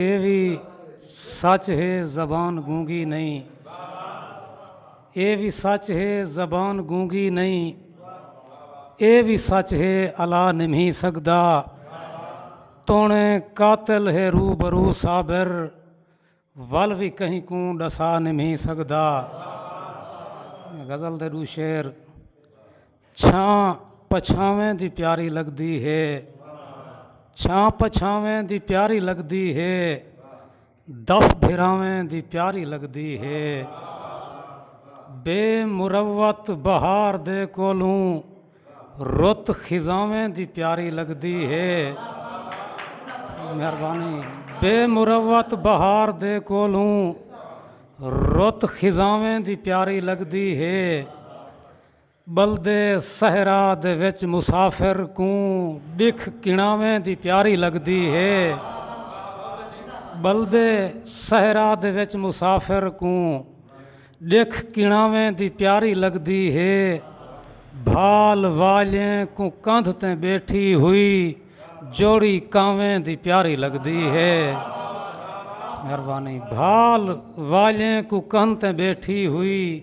اے وی سچ ہے زبان گونگی نئیں اے وی سچ ہے زبان گونگی نئیں اے وی سچ ہے الا نمہی سگدا تونے قاتل ہے رو برو صابر ول وی کہیں کوں ڈسا نمہی سگدا غزل دے دو شعر چھاں پچھاویں دی پیاری لگدی ہے چھاں پچھاویں دی پیاری لگدی ہے دف بھراویں دی پیاری لگدی ہے بے مروت بہار دے کولوں رت خزاویں دی پیاری لگدی ہے مہربانی بے مروت بہار دے کولوں رت خزاویں دی پیاری لگدی ہے ٻلدے صحرا دے وچ مسافر کوں ݙکھ کݨاویں دی پیاری لڳدی ہے ٻلدے صحرا دے وچ مسافر کوں ݙکھ کݨاویں دی پیاری لڳدی ہے بھال والیں کوں کندھ تیں ٻیٹھی ہوئی جوڑی کانویں دی پیاری لڳدی ہے مہربانی بھال والیں کوں کندھ تیں ٻیٹھی ہوئی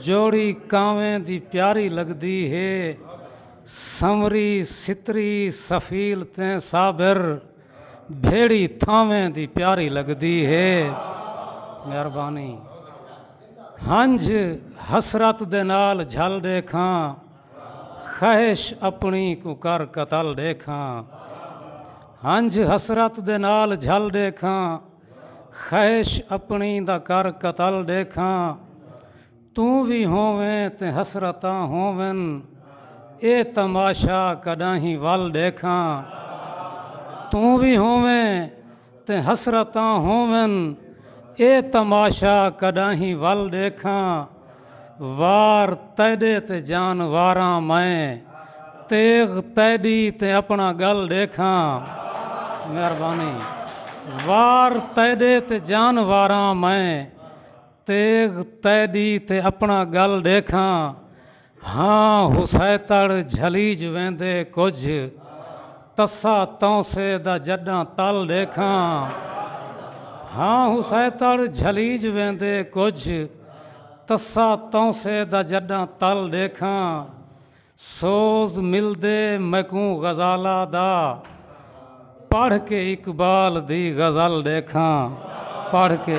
جوڑی کانویں دی پیاری لگدی ہے سنوری ستری سفیل تے صابر بھیڑی تھاویں دی پیاری لگدی ہے مہربانی ہنج حسرت دے نال جھل ڈیکھاں خواہش اپنی کو کر قتل ڈیکھاں ہنج حسرت دے نال جھل ڈیکھاں خیش اپنی دا کر قتل ڈیکھاں توں وی ہوویں تے حسرتاں ہوون اے تماشا کڈاہیں ول ڈیکھاں توں وی ہوویں تے حسرتاں ہوون اے تماشا کڈاہیں ول ڈیکھاں وار تیݙے تے جان واراں میں تیغ تیݙی تے اپݨا ڳل ݙیکھاں مہربانی وار تیݙے تے جان واراں میں تیغ تیݙی تے اپݨا ڳل ݙیکھاں ہاں حسیتڑ جھلیج ویندے کجھ تسا تونسے دا جڈاں تل ݙیکھاں ہاں حسیتڑ جھلیج ویندے کجھ تسا تونسے دا جڈاں تل ڈیکھاں سوز ملدے میکوں غزالہ دا پڑھ کے اقبال دی غزل ڈیکھاں پڑھ کے